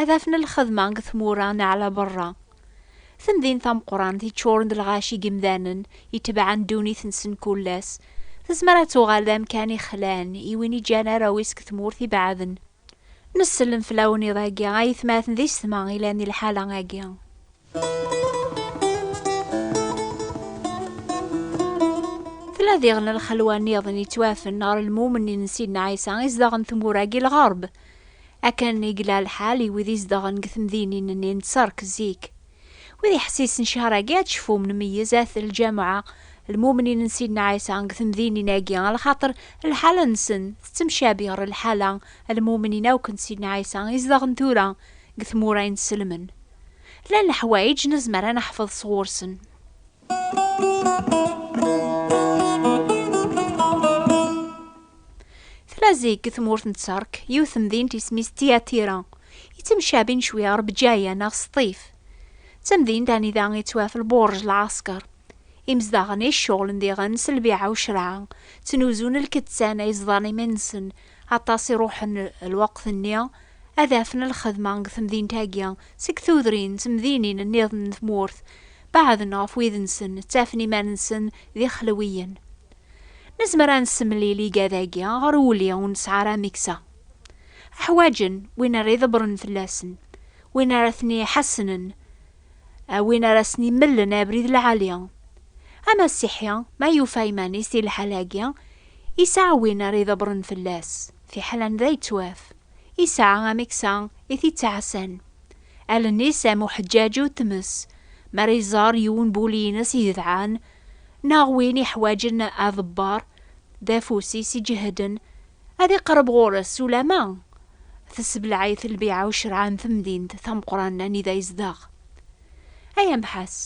Ad afen lxedma deg tmura neɣ la berra. Tamdint tameqqrant yeččuren d lɣaci n yimdanen itebɛen ddunit-nsen mkul ass, tezmer ad tuɣal d amkan ixlan i win iǧǧan arraw-is deg tmurt ibeɛden. Nessellem fell-awen iḍ-agi, a yetmaten d yessetma ilan di lḥala-agi. Tella diɣen lxelwa niḍen yettwafen ɣer lmumen n Sidna Ɛisa izdaɣen tmura-agi lɣerb. Akken i yella lḥal i wid izdaɣen deg temdinin-nni n Tserk zik. Wid iḥessisen ccehra-agi ad cfum nmeyyez at lǧameɛ lmumnin n Sidna Ɛisa deg temdinin-agi lxaṭer lḥala-nsen tettemcabi ɣer lḥala lmumnin akk n Sidna Ɛisa izdaɣen tura deg tmura inselmen. Llan leḥwayeǧ nezmer ad neḥfeḍ sɣur-sen. Tella zik deg tmurt n Tterk, yiwet temdint isem-is Tiyatira, yettemcabin cwi ɣer Bǧaya neɣ Sṭif. D tamdint anida yettwaf lbuṛj lɛasker. Imezdaɣen i iceɣlen diɣen s lbiɛa ucreɛ, ttnuzun lkettan ay ẓḍan iman-nsen, Aṭas i ruḥen lweqt-nni ad afen lxedma deg temdint-agi, seg tudrin d temdinin nniḍen n tmurt, beɛden ɣef wid-nsen, ttafen iman-nsen d ixelwiyen. Nezmer ad nessemlil igad-agi ɣer uli ur nesɛi ara ameksa. Ḥwaǧen win ara iḍebbren fell-asen, win ara ten-iḥassnen, A win ara sen-imellen abrid lɛali, amasiḥi ma yufa iman-is di lḥal-agi, yesɛa win ara idebren fell-as, fiḥel anda yettwaf, yesɛa ameksa i t-ittɛassan. Allen-is am uḥeǧǧaǧ u tmes mi ara iẓer yiwen n wul-ines yedɛan, neɣ win iḥwaǧen aḍebber, d afus-is iǧehden, Ad iqreb ɣur-s ulamma tessebleɛ-it lbiɛa u ccerɛa n temdint tameqqran anida yezdeɣ. Ay amḥas,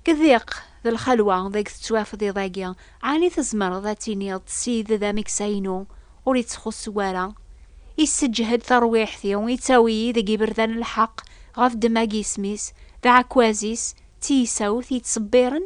k diq d lxelwa deg tettwafeḍ iḍ-agi, ɛni tzemreḍ ad tiniḍ Sid d ameksa-inu ur ittxussu wara, isseǧhed tarwiḥt-iw, ittawi-yi deg iberdan n lḥeq ɣef ddemma n yisem-is, d aɛekkaz-is, d tiyisawt yettṣebbiren?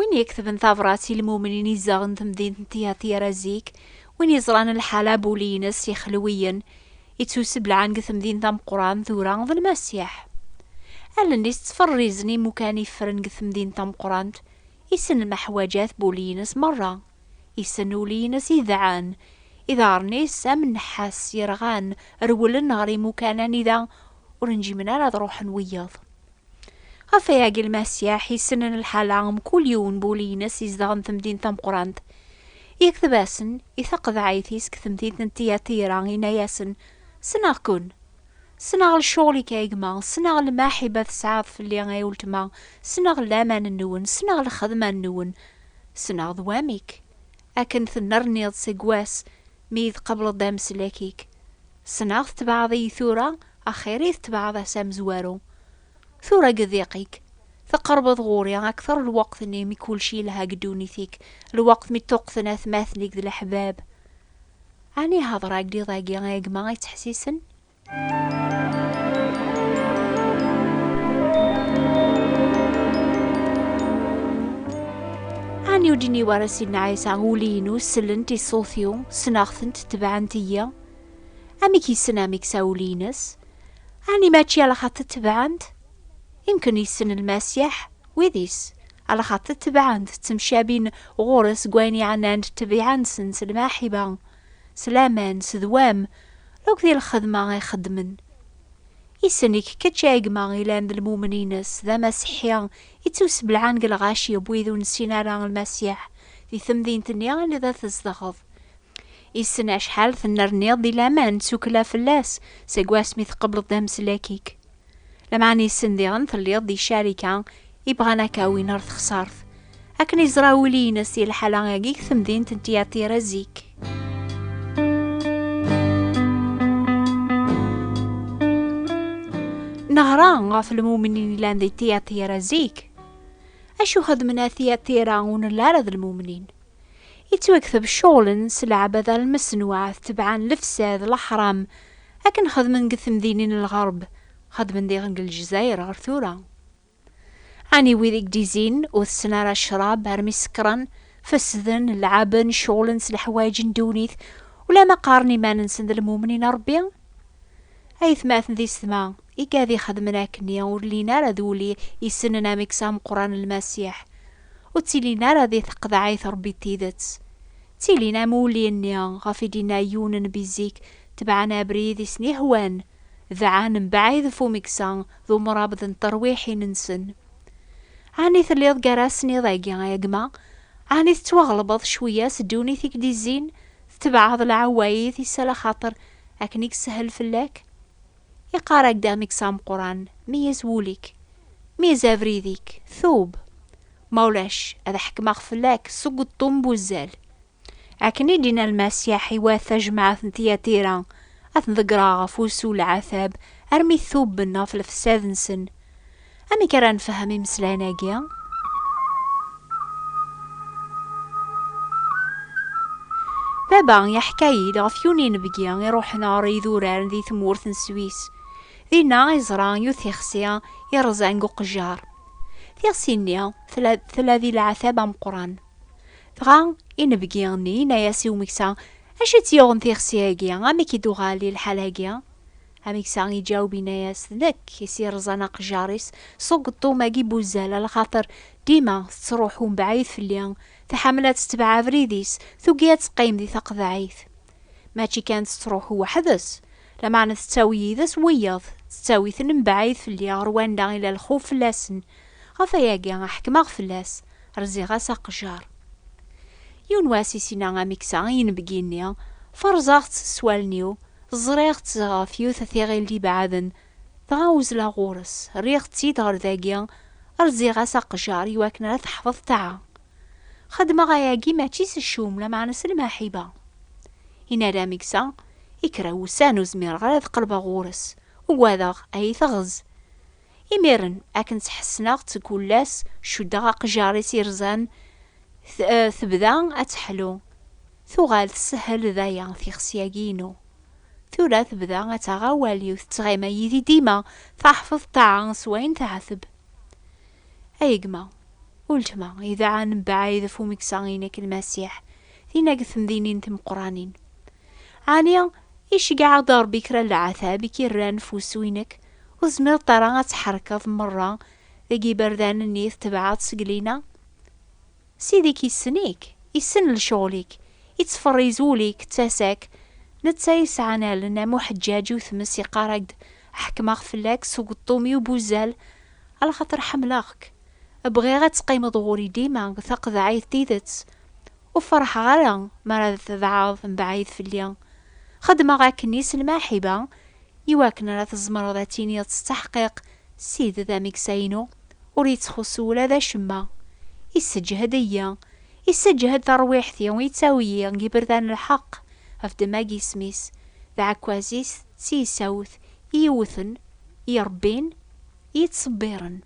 Win yektben tabrat i lmumnin izzaɣen temdint n Tihatira zik, win yeẓran lḥala n wul-nnes yexelwiyen, yettuseblaɛen deg temdint tameqrant tura, d Lmasiḥ. Allen-is ttferrizen imukan iffren deg temdint tameqrant, issen lmeḥwaǧat n wul-nnes merra, issen ul-nnes idɛan, iḍarren-is am nnḥas yerɣan rewlen ɣer imukan anida ur njimen ara ad ruḥen wiyaḍ. Ɣef wayagi lmasiḥ yessnen lḥala n kul yiwen n wul-ines izedɣen temdint tameqqrant. Yekteb-asen i taqeḍɛit-is deg temdint n Tiyatira, yenna-yasen, Ssneɣ-ken! Ssneɣ lecɣul-ik ay gma, ssneɣ lmaḥiba tesɛiḍ fell-i ay uletma, ssneɣ laman-nwen, ssneɣ lxedma-nwen, ssneɣ d wamek akken tennerniḍ seg wass mi iyi-tqableḍ d ameslak-ik. Ssneɣ tetbeɛeḍ-iyi tura, Axir i tetbeɛeḍ ass amezwaru. Tura deg udiq-ik, teqrebeḍ ɣur-i akteṛ lweqt-nni mi kullec yelha deg ddunit-ik, lweqt mi ṭṭuqten atmaten-ik d leḥbab. Ɛni heḍṛeɣ-ak-d iḍ-agi i gma yettḥessisen? Ɛni ur d-yenni wara Sidna Ɛisa, Ul-inu sellent i ṣṣut-iw, ssneɣ-tent, tebɛent-iyi? Amek yessen amek sawul-ines? Ɛni mačči ala xaṭi tebɛen-t? Imken yessen Lmasiḥ wid-is, ala xaṭi tebɛen-t, ttemcabin ɣur-s deg wayen yeɛnan ṭṭbiɛa-nsen s lmaḥiba, s laman, s ddwam, akk di lxedma i xeddmen. Yessen-ik kečč a gma ilan d lmumen-ines, d amasiḥi, ittusbelɛan deg lɣaci n wid ur nessin ara Lmasiḥ, di temdint-nni anida tzedɣeḍ, Issen acḥal tennerniḍ di laman tsukkla fell-as seg wasmi tqebleḍ d ameslak-ik. Lameɛna issen diɣen telliḍ di carika i bɣan ad k-awin ɣer texsart. Akken iẓra wul-ines i lḥala-agi deg temdint n Tiyatira zik. Neɣra ɣef lmumin i yellan di Tiyatira zik. Acu xedmen a Tiyatira ur nella ara d lmumnin? Ittwakteb ccɣel-n s leɛbada lmesnuɛ tebɛa n lefsad, leḥram, akken xedmen deg temdinin n lɣerb, xedmen diɣen deg Lezzayer ɣer tura. Ɛni wid i gdizin, ur tessen ara ccrab armi sekkren, fessden, leɛben, ccɣlen s leḥwayeǧ n ddunit, ulamma qqaren iman-nsen d lmumnin n Ṛebbi? Ayetmaten di setma! Igad ixedmen akkenni ur llin ara d uli isenen amek s ameqqran Lmasiḥ. Ur ttilin ara di teqḍeɛ i trebbi d tidet. Ttilin am uli-nni ɣef i d-inna yiwen n bi zik, tebɛen abrid i sen-ihwan, dɛan mbaɛid ɣef umeksa d umrabḍ n terwiḥin-nsen. Ɛni telliḍ gar-asen iḍ-agi a gma? Ɛni tettwaɣelbeḍ cwiya s ddunit i k-d-izzin, tetebɛeḍ lɛewayid-is ala xaṭer akken i yeshel fell-ak? Iqarrak-d amek s ameqqran, meyyez wul-ik, meyyez abrid-ik, tub! Ma ulac, ad ḥekmeɣ fell-ak seg uṭṭun n wuzzal. Akken i d-yenna Lmasiḥ, iwat tajmaɛt n Tiyatira, ad ten-ḍeggreɣ ɣef wusu n lɛatab, armi tuben ɣef lefsad-nsen. Amek ara nfehhem imeslayen-agi? Baba yeḥka-yi-d ɣef yiwen inebgi iruḥen ɣer yidurar di tmurt n Swis. Dinna i yeẓra yiwet tixsi iṛẓan deg uqejjar. Tixsi-nni tella di leɛtab ameqqran. Dɣa inebgi-nni yenna-as i umeksa, Acu i tt-yuɣen tixsi-agi, amek i d-tuɣal i lḥal-agi? Ameksa iǧaweb yenna-yas, D nekk i s-iṛẓan aqejjar-is s ugeṭṭum-agi n wuzzal, alaxaṭer dima tettṛuḥu mebɛid fell-i, tḥemmel ad tetbeɛ abrid-is, tugi ad teqqim di taqeḍɛit. Mačči kan tettṛuḥu weḥd-s, lameɛna tettawi yid-s wiyaḍ, tettawi-ten mebɛid fell-i ɣer wanda i la lxuf fell-asen, Ɣef wayagi a ḥekmeɣ fell-as, rziɣ-as aqejjar. Yiwen wass isina amiksa i inebgi-nni, ferẓeɣ-tt s wallen-iw, ẓriɣ-tt ɣef yiwet tiɣilt ibeɛden, dɣa uzleɣ ɣur-s, rriɣ-tt-id ɣer dagi, rziɣ-as aqejjar i wakken ara teḥfeḍ taɛa. Xedmeɣ ayagi mačči s ccum, lameɛna s lmaḥiba. Yenna-d amiksa, I kra n wussan ur zmireɣ ara ad qelbeɣ ɣur-s, ugadeɣ a yi-teɣz. Imiren, akken tt-ḥessneɣ tgulla-s, cuddeɣ aqjar-is irzan, tebda ad teḥlu. Tuɣal tessehhel d aya tixsi-agi-inu. Tura tebda ad taɣ awal-iw, tettɣima yid-i dima, taḥfeḍ ṭṭaɛa s wayen teɛteb. Ay gma, uletma, idɛan mebɛid ɣef umeksa-inek Lmasiḥ, dinna deg temdinin timeqqranin. Ɛni iceggeɛ-aɣ-d Ṛebbi kra n leɛtab i k-irran f wusu-inek? Ur tezmireḍ ara ad tḥerkeḍ meṛṛa deg yiberdan-nni i tetbeɛeḍ seg lina? Ssid-ik issen-ik, issen lecɣel-ik, ittferriz ul-ik d tasa-k, netta yesɛan allen am uḥeǧǧaǧ u tmes iqqar-ak-d ḥekmeɣ fell-ak s ugeṭṭum-iw bu zzal, ala xaṭer ḥemmleɣ-k, bɣiɣ ad teqqimeḍ ɣur-i dima, d taqeḍɛit tidet. Ur ferḥeɣ ara mi ara d tebɛeḍ mebɛid fell-i. Xeddmeɣ akkenni s lmaḥiba i wakken ara tzemreḍ ad tiniḍ s ttaḥqiq Sid d ameksa-inu, ur yettxuṣṣu ula d acemma. Isseǧhed-iyi, isseǧhed tarwiḥt-iw, yettawi-yi deg yiberdan n lḥeqq, ɣef ddemma n yisem-is, d aɛekkaz-is, d tiyessawt i iwwten, i irebbin, yettṣebbiren.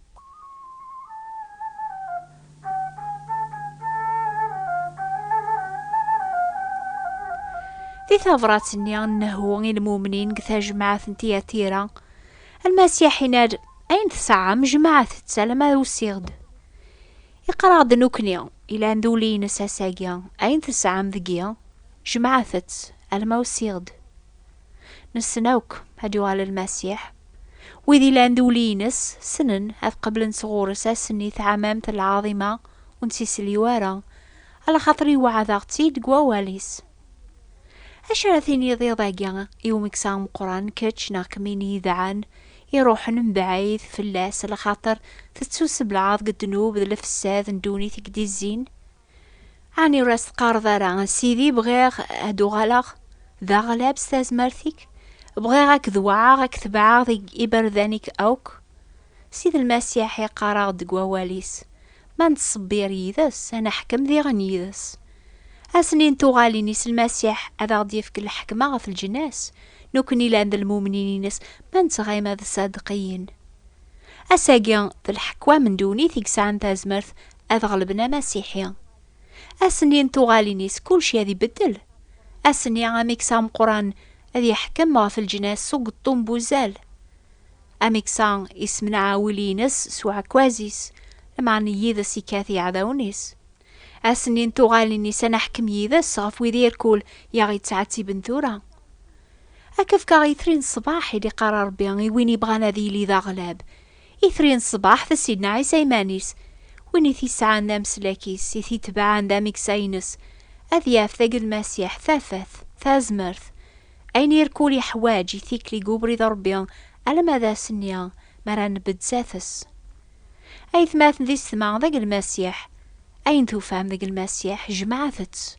Di tabrat-nni n Nehu i lmumnin deg tajmaɛt n Tiyatira, Lmasiḥ inna-d, Ayen tesɛam, jemɛet-tt alamma usiɣ-d. Iqerreɣ-d nekkni, ilan d ul-nnes ass-agi, Ayen tesɛam deg-i, jemɛet-tt alamma usiɣ-d. Nessen akk ad yuɣal Lmasiḥ. Wid yellan d uli-ines ssnen ad qeblen sɣur-s ass-nni taɛmamt lɛaḍima ur nettisliw ara, alaxaṭer iweɛɛed-aɣ-tt-id deg Wawal-is. Acu ara tiniḍ iḍ-agi i umeksa ameqqran kečč neɣ kemmi n yidɛan iruḥen mebɛid fell-as alaxaṭer tettuseblaɛeḍ deg ddnub d lefsad n ddunit i k-d-izzin? Ɛni ur as-teqqareḍ ara, a Sidi, bɣiɣ ad uɣaleɣ d aɣlab s tazmert-ik? Bɣiɣ ad k-dewɛeɣ, ad k-tebɛeɣ deg iberdan-ik akk? Sidi Lmasiḥ iqqar-aɣ-d deg Wawal-is, Ma nettṣebbir yid-s, ad neḥkem diɣen yid-s. Ass-nni n tuɣalin-is, Lmasiḥ ad aɣ-d-yefk lḥekma ɣef leǧnas, nekkni llan d lmumnin-ines, ma nettɣim ad ṣṣadeqiyin. Ass-agi, d leḥkwam n ddunit i yesɛan tazmert ad ɣelben amasiḥi. Ass-nni n tuɣalin-is kulci ad ibeddel. Ass-nni amiksa ameqqran ad yeḥkem ɣef leǧnas s ugeṭṭum n wuzzal. Amiksa isemneɛ awil-ines s uɛekkaz-is, lameɛna yid-s ikkat iɛdawen-is. Ass-nni n tuɣalin-is ad naḥkem yid-s ɣef wid irkul i aɣ-yettɛettiben tura. Ad k-fkeɣ itri n ṣṣbaḥ, i d-iqqar Rebbi, i win yebɣan ad yili d aɣlab, Itri n ṣṣbeḥ, d Sidna Ɛisa iman-is, win i t-isɛan d ameslak-is, i t-itebɛen d ameksa-ines, ad yaf deg Lmasiḥ tafat, tazmert, ayen i rkul yeḥwaǧ i tikli deg ubrid n Ṛebbi alamma d ass-nni mi ara nebedd sat-s. Aytmaten d isetma deg Lmasiḥ, ayen tufam deg Lmasiḥ, jemɛet-tt.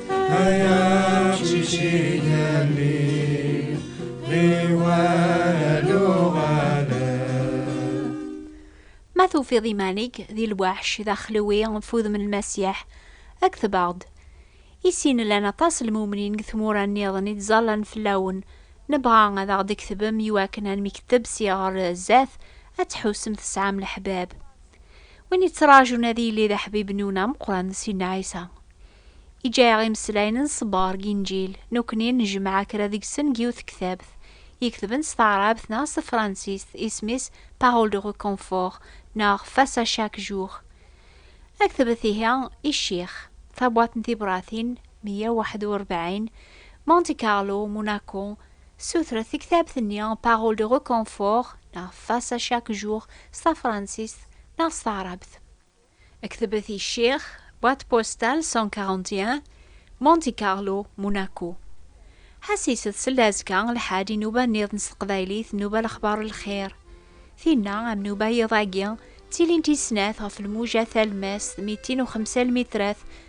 Ma tufiḍ iman-ik di lwaḥc d axlewi f udem n Lmasiḥ, kteb-aɣ-d. I sin llan aṭas n lmumnin deg tmura nniḍen i ttẓallan fell-awen, nebɣa ad aɣ-d-tketbem i wakken almi kteb si ɣer zdat ad tḥusem tesɛam leḥbab. Win yettraǧun ad yili d aḥbib-nwen ameqqran, Sidna Ɛisa. I ǧǧayaɣ imeslayen n ṣṣber deg Inǧil, nekkni nejmeɛ kra deg-sen deg yiwet tektabt i ketben s taɛrabt neɣ s tefransist, isem-is Paroles de reconfort neɣ Face à chaque jour. Ad ketbet ihi i ccix, tabwaṭ n tibratin, meyya u waḥed u rebɛin, Monte Carlo, Monaco, Ssutret tektabt-nni Paroles de reconfort neɣ Face à chaque jour s tafransist neɣ s taɛrabt. Ktbet i Ccix, boîte postale 141, Monte Carlo, Monaco. Ḥassiset seld azekka lḥal inuba nniḍen s teqbaylit nnuba lexbar lxir. Tinna am nuba yiḍ-agi ttilint i snat ɣef lmuja talmast mitin u xemsa lmitrat